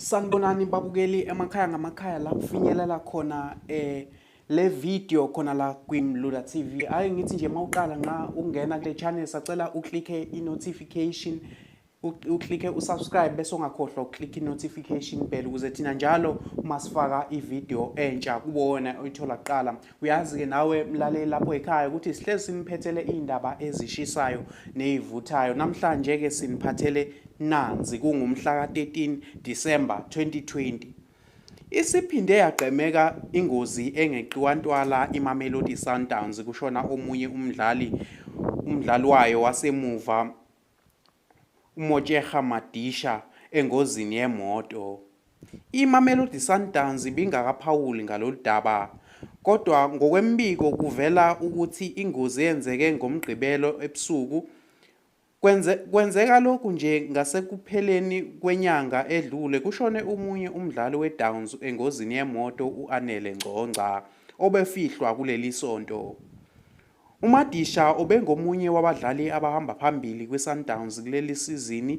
Sanibonani babukeli emakhaya ngamakhaya la kufinyelela khona eh le video khona la kwiMlula TV. Hayi ngithi nje mawuqala nxa ungena kule channel sacela uclicke i notification uclicke usubscribe bese ungakhohlwa ukuclick i notification bell ukuze thina njalo masifaka i video entsha kubona oyithola kuqala. Uyazi-ke nawe mlaleli lapho ekhaya ukuthi sihlezi siniphethele iy'ndaba ezishisayo ney'vuthayo. Namhlanje-ke siniphathele nanzi kungumhla ka-13 December 2020. Isiphinde yagqemeka ingozi engeqiwa ntwala iMamelodi Sundowns kushona omunye umdlali umdlali wayo wasemuva UMotjega Madisha engozini yemoto. IMamelodi Sundowns ibingakaphawuli ngalolu daba kodwa ngokwembiko kuvela ukuthi ingozi eyenzeke ngoMgqibelo ebusuku kwenze kwenzeka lokhu nje ngasekupheleni kwenyanga edlule kushone umunye umdlali weDowns engozini yemoto u-Anele Ngcongca obefihlwa kuleli sonto. UMadisha ubengomunye wabadlali abahamba phambili kwiSundowns kuleli sizini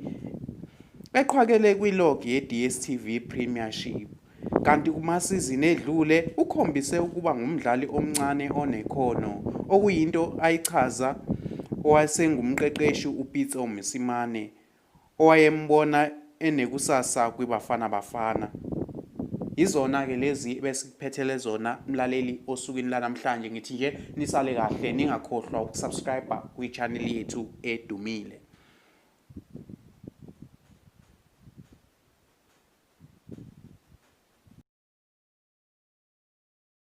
eqhwakele kwi-log ye-DStv Premiership kanti kumasizini edlule ukhombise ukuba ngumdlali omncane onekhono okuyinto ayichaza owasengumqeqeshi uPitso Mosimane owayembona enekusasa kwiBafana Bafana. Yizona-ke lezi ebesikuphethele zona mlaleli osukwini lanamhlanje ngithi nje nisale kahle ningakhohlwa ukusubscribe kwi-channel yethu edumile.